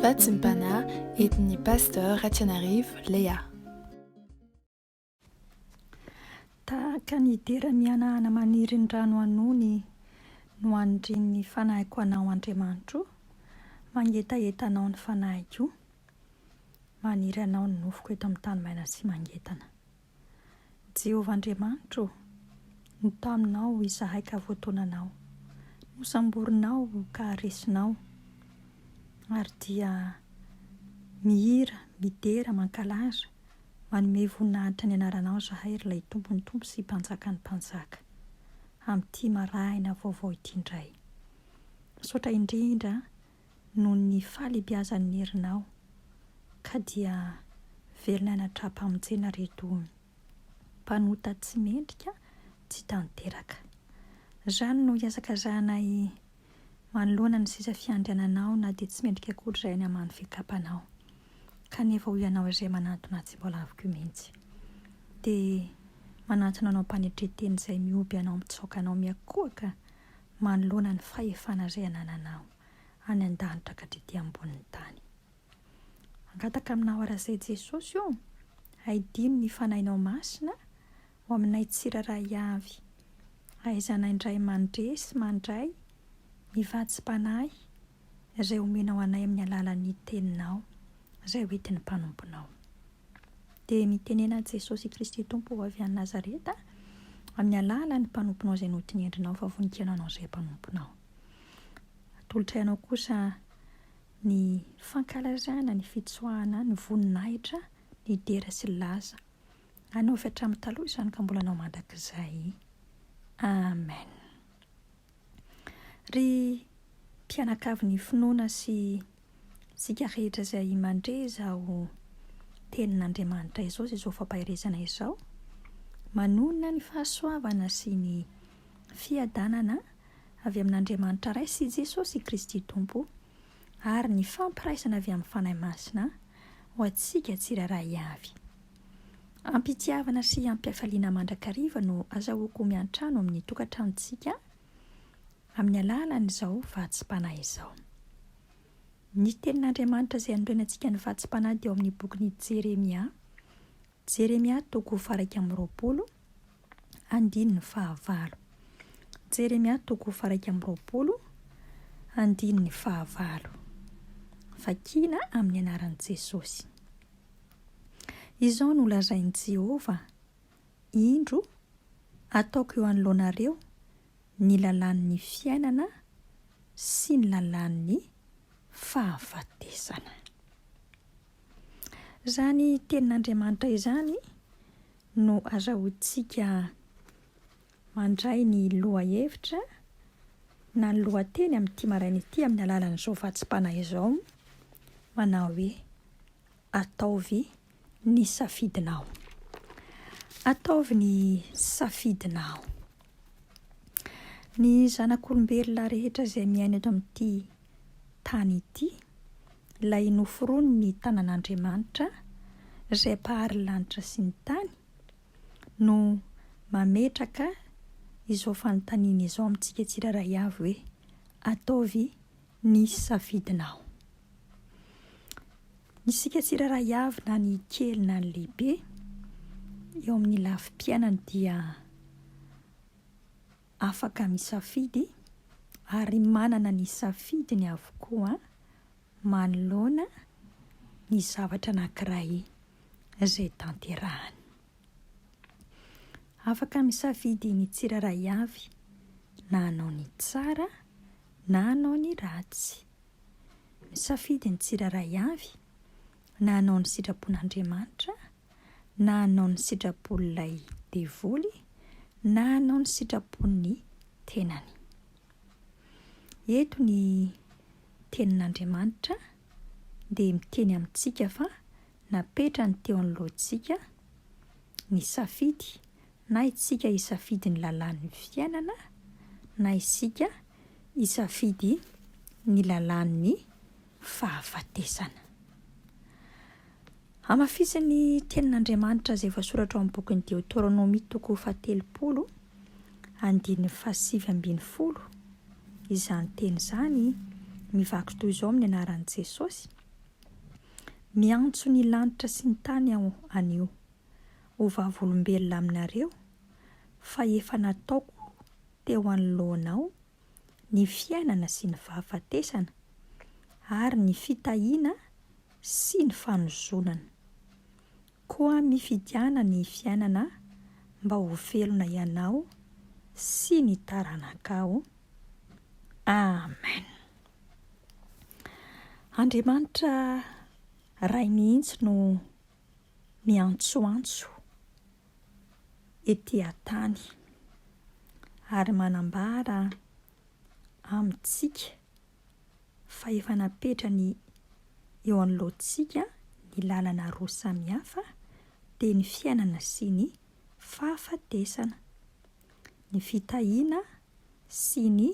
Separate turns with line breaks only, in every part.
Fatsimpana entin'ny Pasteur Ratsianarivo Léa.
Tahaka ny dera mihanahana maniry ny rano hanony no anindrian'ny fanahiko anao Andriamanitro o, mangetaheta anao ny fanahiko o, maniry anao ny nofoko eto amin'ny tany maina sy mangetana. Jehovah Andriamanitro ô, no taminao izahay ka voatonanao, nosamborinao ka resinao, ary dia mihira, midera, mankalaza, manome voninahitra ny anaranao izahay, ry Ilay Tompon'ny tompo sy Mpanjakan'ny mpanjaka, amin'ity marahina vaovao ity indray. Misaotra indrindra noho ny fahalebiazan'ny herinao, ka dia velona anatrapamojena reto mpanota tsy mendrika tsy tanteraka. Zany no iasakazahanay manoloana ny seza fiandriananao na dia tsy mendrika akory izay any amany fikapanao, kanefa ho ianao izay manantona tsy mbola avy koa mihitsy. Dia manantona anao mpanetre-teny izay mihoby anao mitsaoka anao miakohoka manoloana ny fahefana izay anananao any an-danitra ka hatrety ambonin'ny tany. Hangataka aminao arak'izay Jesosy o, haidino ny Fanahinao Masina ho aminay tsirairay avy, hahaizanay indray mandre sy mandray ny vatsim-panahy izay omenao anay amin'ny alalan'ny Teninao izay hoentin'ny mpanomponao. Dia mitenena Jesosy Kristy Tompo ho avy any Nazareta, amin'ny alalan'ny mpanomponao izay notinendrinao fa voninkaina anao izay mpanomponao. Atolotray anao kosa ny fankalazana ny fitsoahana ny voninahitra nidera sy nilaza anao avy hatramin'ny taloha izany ka mbola anao mandrakizay. Amen. Ry mpianakavy ny finoana sy isika rehetra izay mandre izao tenin'Andriamanitra izao sy izao fampaherezana izao, manonona ny fahasoavana sy ny fiadanana avy amin'Andriamanitra Ray sy Jesosy Kristy Tompo ary ny fampiraisana avy amin'ny Fanahy Masina ho antsika tsirairay avy. Am-pitiavana sy am-pifaliana mandrakariva no azahoako miantrano amin'ny tokantranontsika amin'ny alalan'izao vatsim-panahy izao. Ny Tenin'Andriamanitra izay anorenantsika ny vatsim-panahy dia ao amin'ny bokin'i Jeremia, Jeremia toko faharaika amby roapolo, andininy fahavalo. Jeremia toko faharaika amby roapolo, andininy fahavalo. Vakina amin'ny anaran'i Jesosy. Izao no lazain'i Jehovah, Indro, ataoko eo anoloanareo ny lalàn'ny fiainana sy ny lalàn'ny fahafatesana. Izany Tenin'Andriamanitra izany no azahoantsika mandray ny lohahevitra na ny lohateny amin'ity maraina ity amin'ny alalan'izao vatsim-panahy izao, manao hoe, Ataovy ny safidinao. Ataovy ny safidinao. Ny zanak'olombelona rehetra izay miaina eto amin'ity tany ity, ilay noforoniny ny tanan'Andriamanitra, izay Mpahary ny lanitra sy ny tany, no mametraka izao fanontaniana izao amintsika tsirairay avy hoe, Ataovy ny safidinao. Isika tsirairay avy na ny kely na ny lehibe, eo amin'ny lafim-piainany dia afaka misafidy ary manana ny safidiny avokoa manoloana ny zavatra anankiray izay tanterahany. Afaka misafidy ny tsirairay avy na hanao ny tsara na hanao ny ratsy. Misafidy ny tsirairay avy Na hanao ny sitrapon'Andriamanitra, na hanao ny sitrapon'ilay devoly, na hanao ny sitrapon'ny tenany. Eto ny tenin'Andriamanitra dia miteny amintsika fa napetrany teo anoloantsika ny safidy, na isika hisafidy ny lalàn'ny fiainana, na isika hisafidy ny lalàn'ny fahafatesana. Hamafisin'ny Tenin'Andriamanitra izay voasoratra ao amin'ny bokin'ny Deoteronomia toko fahatelopolo, andininy fahasivy ambin'ny folo, izany teny izany, mivaky toy izao amin'ny anaran'i Jesosy, Miantso ny lanitra sy ny tany Aho anio, ho vavolombelona aminareo, fa efa nataoko teo anoloanao ny fiainana sy ny fahafatesana, ary ny fitahiana sy ny fanozonana. Koa mifidiana ny fiainana mba ho velona ianao sy ny taranakao. Amen. Andriamanitra Ray mihitsy no miantsoantso. ety an-tany, ary manambara amintsika fa efa napetrany eo anoloantsika ny lalana roa samihafa, dia ny fiainana sy ny fahafatesana, ny fitahiana sy ny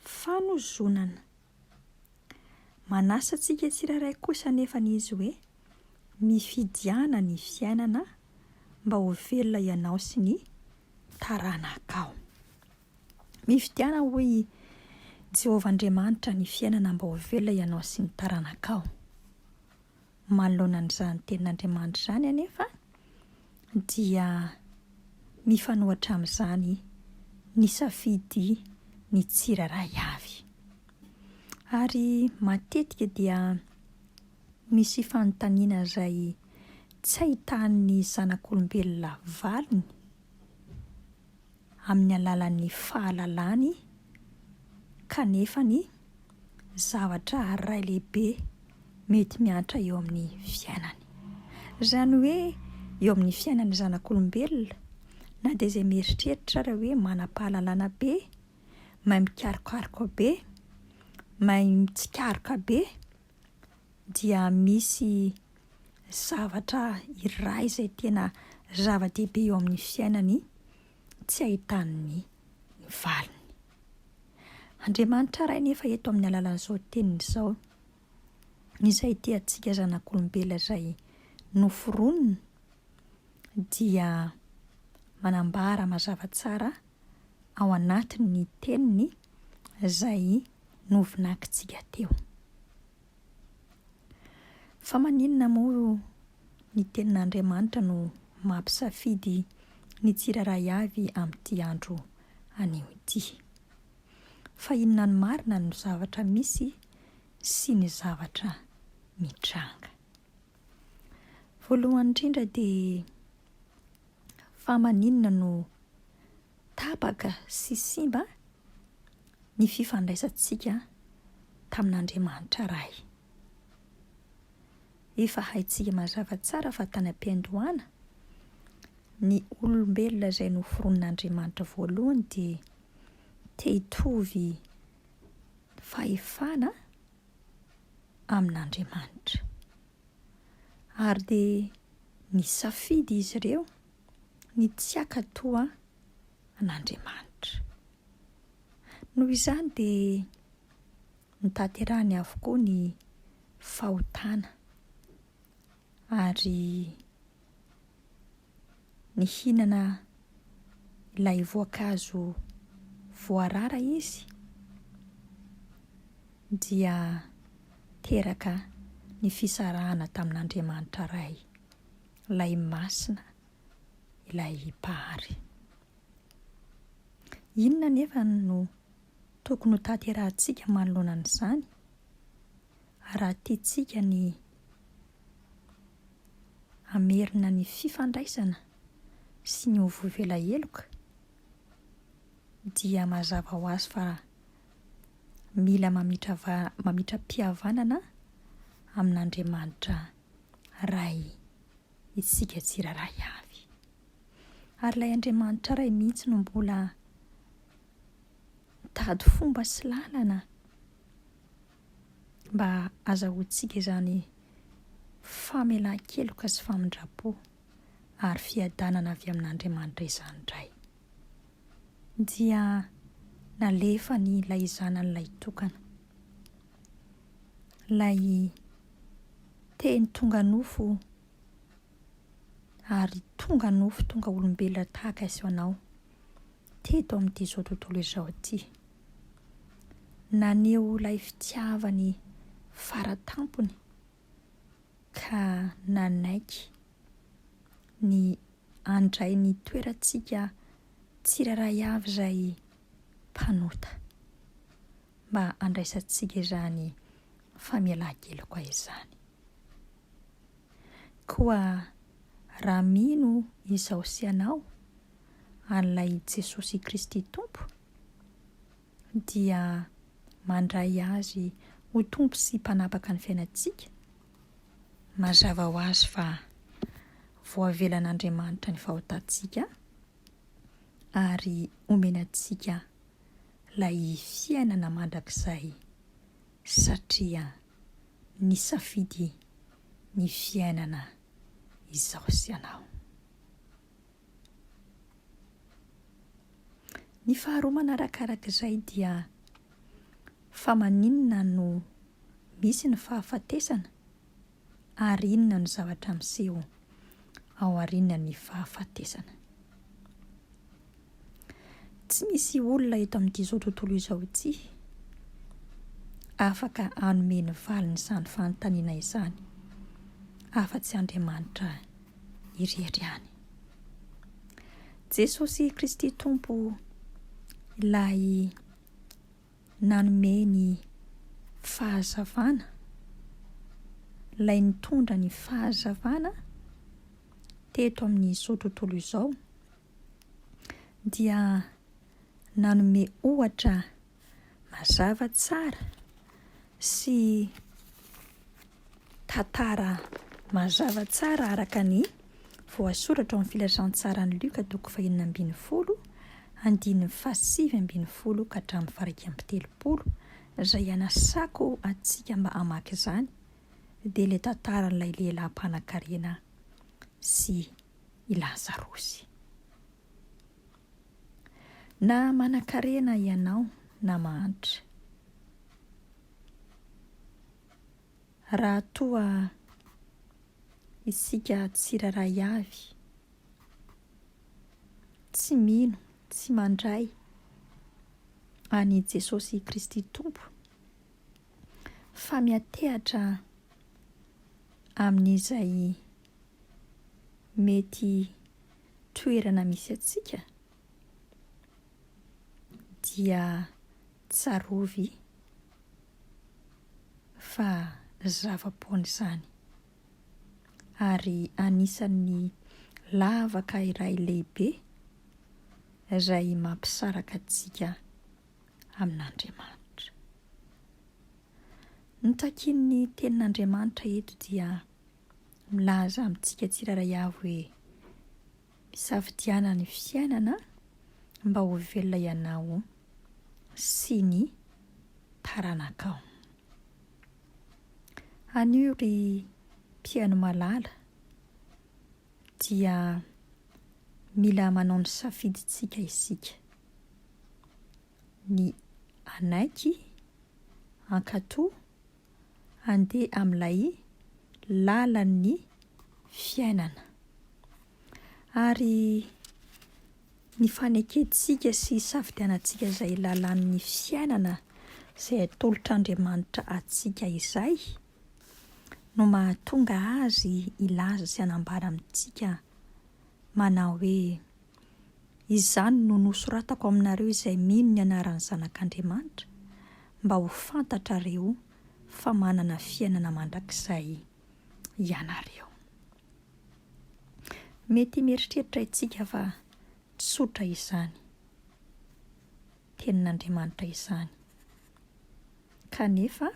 fanozonana. Manasa antsika tsirairay kosa anefa ny izy hoe, Mifidiana ny fiainana mba ho velona ianao sy ny taranakao. Mifidiana, hoy i Jehovah Andriamanitra, ny fiainana mba ho velona ianao sy ny taranakao. Manoloana an'izany tenin'Andriamanitra izany anefa, dia mifanohitra amin'izany ny safidy ny tsirairay avy. Ary matetika dia misy fanontaniana izay tsy ahitan'ny zanak'olombelona valiny. amin'ny alalan'ny fahalalany kanefa ny zavatra iray lehibe mety miantra eo amin'ny fiainany. Izany hoe eo amin'ny fiainan'ny zanak'olombelona, na dia izay mieritreritra ary hoe manam-pahalalana be, mahay mikarokaroka be, mahay mitsikaroka be, dia misy zavatra iray izay tena zava-dehibe eo amin'ny fiainany tsy ahitany ny valiny. Andriamanitra Ray anefa eto amin'ny alalan'izao teniny izao, izay tia antsika zanak'olombelona izay noforoniny, dia manambara mazava tsara ao anatin'ny teniny izay novinakintsika teo. Fa maninona moa ny Tenin'Andriamanitra no mampisafidy ny tsirairay avy amin'ity andro anio ity? Fa inona ny marina no zavatra misy sy ny zavatra mitranga? Voalohany indrindra dia fa maninona no Tapaka sy simba ny fifandraisantsika tamin'Andriamanitra Ray. Efa haintsika mazava tsara fa tany am-piandohana, ny olombelona izay noforonin'Andriamanitra voalohany dia te hitovy fahefana amin'Andriamanitra. Ary dia nisafidy izy ireo ny tsy hankatoa an'Andriamanitra. Noho izany dia notanterahiny avokoa ny fahotana ary nihinana ilay voankazo voarara izy dia teraka ny fisarahana tamin'Andriamanitra Ray. Ilay Masina ilay Mpahary. Inona anefa no tokony ho tanterahantsika manoloana an'izany? Raha tiantsika ny hamerina ny fifandraisana sy ny ho vovo ela heloka, dia mazava ho azy fa mila mamitra va- mamitra-pihavanana amin'Andriamanitra Ray, isika tsirairay avy. Ary ilay Andriamanitra Ray mihitsy no mbola mitady fomba sy lalana mba hazahoantsika izany famelan-keloka sy famindram-po ary fiadanana avy amin'Andriamanitra izany indray. Dia nalefany ilay Zanany ilay tokana, ilay Teny tonga nofo o! Ary tonga nofo tonga olombelona tahaka izao anao, teto amin'ity izao tontolo izao ity. Naneho ilay fitiavany fara tampony ka nanaiky ny handray ny toerantsika tsirairay avy izay mpanota. mba handraisantsika izany famelan-keloka izany. Koa raha mino izaho sy ianao an'ilay Jesosy Kristy Tompo, dia mandray Azy ho Tompo sy Mpanapaka ny fiainantsika, mazava ho azy fa voavelan'Andriamanitra ny fahotantsika ary omena antsika lay fiainana mandrakizay satria nisafidy ny fiainana izaho sy ianao. Ny faharoa manaraka araka izay dia fa maninona no misy ny fahafatesana? ary inona no zavatra miseho aorian'ny fahafatesana. Tsy misy olona eto amin'izao tontolo izao ity afaka hanome ny valin'izany fanontaniana izany afa-tsy Andriamanitra irery ihany. Jesosy Kristy Tompo ilay Nanome ny fahazavana ilay nitondra ny fahazavana teto amin'izao tontolo izao dia nanome ohatra mazava tsara sy Tantara mazava tsara araka ny voasoratra ao amin'ny Filazantsaran'i Lioka toko fahenina ambin'ny folo, andininy fahasivy ambin'ny folo ka hatramin'ny faharaika amby telopolo, izay anasako antsika mba hamaky izany, dia ilay tantaran'ilay lehilahy mpanankarena sy i Lazarosy. Na manankarena ianao na mahantra. Raha toa isika tsirairay avy tsy mino, tsy mandray an'i Jesosy Kristy Tompo, fa miantehatra amin'izay mety toerana misy antsika, dia tsarovy fa zava-poana izany, ary anisan'ny lavaka iray lehibe izay mampisaraka antsika amin'Andriamanitra. Ny takian'ny Tenin'Andriamanitra eto dia milaza amintsika tsirairay avy hoe. Isafidianana ny fiainana mba ho velona ianao sy ny taranakao. Anio ry mpihaino malala dia mila manao ny safidintsika isika. Ny hanaiky, hankatò. handeha amin'ilay lalan'ny fiainana. Ary ny fanekentsika sy hisafidianantsika izay lalan'ny fiainana izay atolotr'Andriamanitra antsika izay no mahatonga Azy hilaza sy hanambara amintsika manao hoe. Izany no nosoratako aminareo izay mino ny anaran'ny Zanak'Andriamanitra, mba ho fantatrareo fa manana fiainana mandrakizay ianareo. Mety mieritreritra isika fa tsotra izany Tenin'Andriamanitra izany, kanefa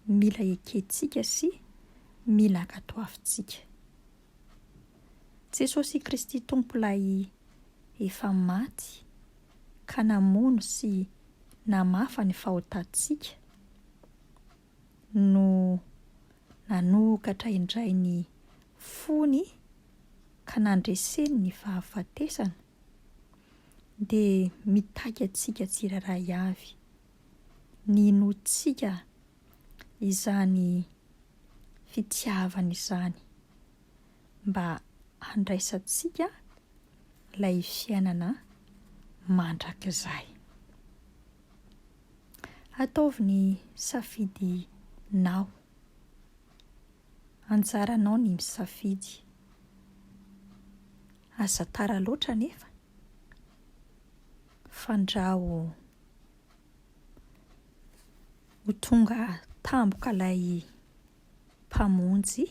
mila ekentsika sy mila ankatoavintsika. Jesosy Kristy Tompo Ilay efa maty ka namono sy namafa ny fahotantsika no nanokatra indray ny fony ka nandreseny ny fahafatesana dia mitaky antsika tsirairay avy ny hinoantsika izany fitiavana izany mba handraisantsika ilay fiainana mandrakizay. Ataovy ny safidinao. Anjaranao ny misafidy. Aza tara loatra anefa. Fandrao. Ho tonga tampoka ilay Mpamonjy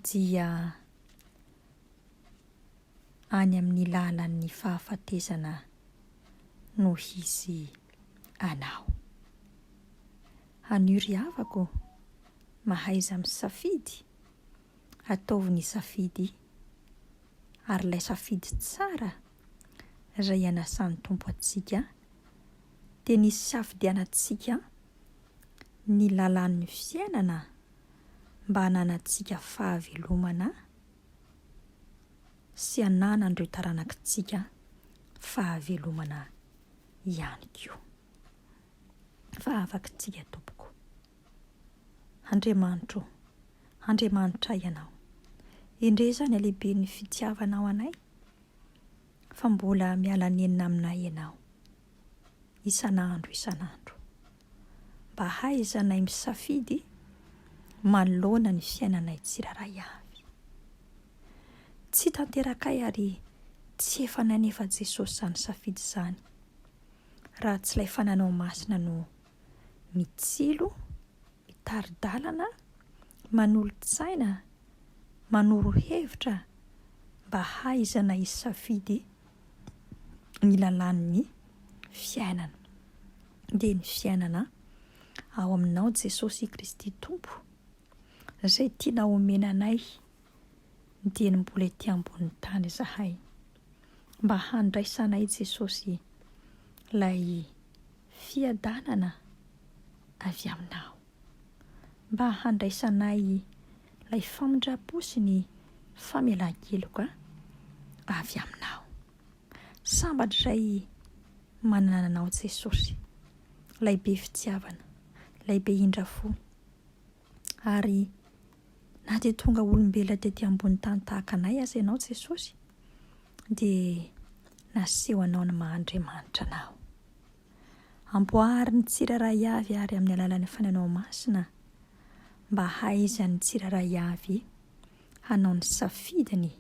dia any amin'ny lalan'ny fahafatesana no hisy anao. Anio ry havako, mahaiza misafidy, ataovy ny safidy, ary ilay safidy tsara Ray anasan'ny Tompo antsika dia ny hisafidianantsika ny lalan'ny fiainana mba hananantsika fahavelomana sy hananan'ireo taranakitsika fahavelomana ihany koa. Fa afaka tsika tompoko. Andriamanitro ô, Andriamanitra Ianao. Endrey izany halehiben'ny fitiavanao anay, fa mbola miala nenina aminay Ianao, isan'andro isan'andro. Mba hahaizanay misafidy manoloana ny fiainanay tsirairay avy. Tsy tanterakay ary tsy efa nanefa Jesosy izany safidy izany, raha tsy ilay Fananao Masina no mitsilo, mitari-dalana, manolo-tsaina, manoro hevitra mba hahaizana hisafidy ny lalàn'ny fiainana. Dia ny fiainana ao aminao Jesosy Kristy Tompo, izay tiana omena anay dieny mbola ety ambonin'ny tany izahay, mba handraisanay Jesosy ilay Fiadanana avy Aminao. Mba handraisanay ilay famindram-po sy ny famelan-keloka avy Aminao. Sambatra izay manana anao Jesosy, ilay be fitiavana, ilay be indra-fo. Ary na dia tonga olombelona tety ambony tany tahaka anay aza ianao Jesosy dia naseho anao ny maha Andriamanitra anao. Amboary ny tsirairay avy ary amin'ny alalan'ny fanahinao masina mba hahaizan'ny tsirairay avy hanao ny safidiny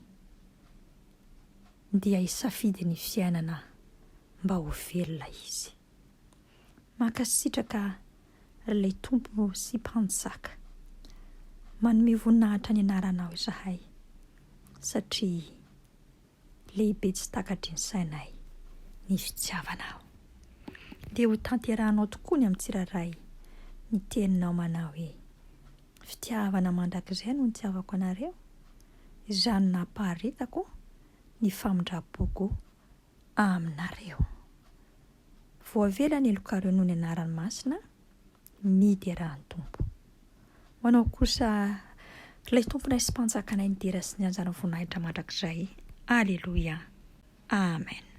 dia hisafidy ny fiainana mba ho velona izy. Mankasitraka ry lay Tompo sy Mpanjaka. Manome voninahitra ny anaranao izahay satria lehibe tsy takatry ny sainay ny fitiavanao. Dia ho tanterahanao tokoa ny amin'ny tsirairay ny teninao manao hoe, Fitiavana mandrakizay no nitiavako anareo, izany nampaharetako ny famindram-poko aminareo. Voavela ny helokareo noho ny anarany masina, midera ny Tompo. Ho anao kosa, Ilay Tomponay sy Mpanjakanay nidera sy nianjara ny voninahitra mandrakizay. Aleloia. Amen.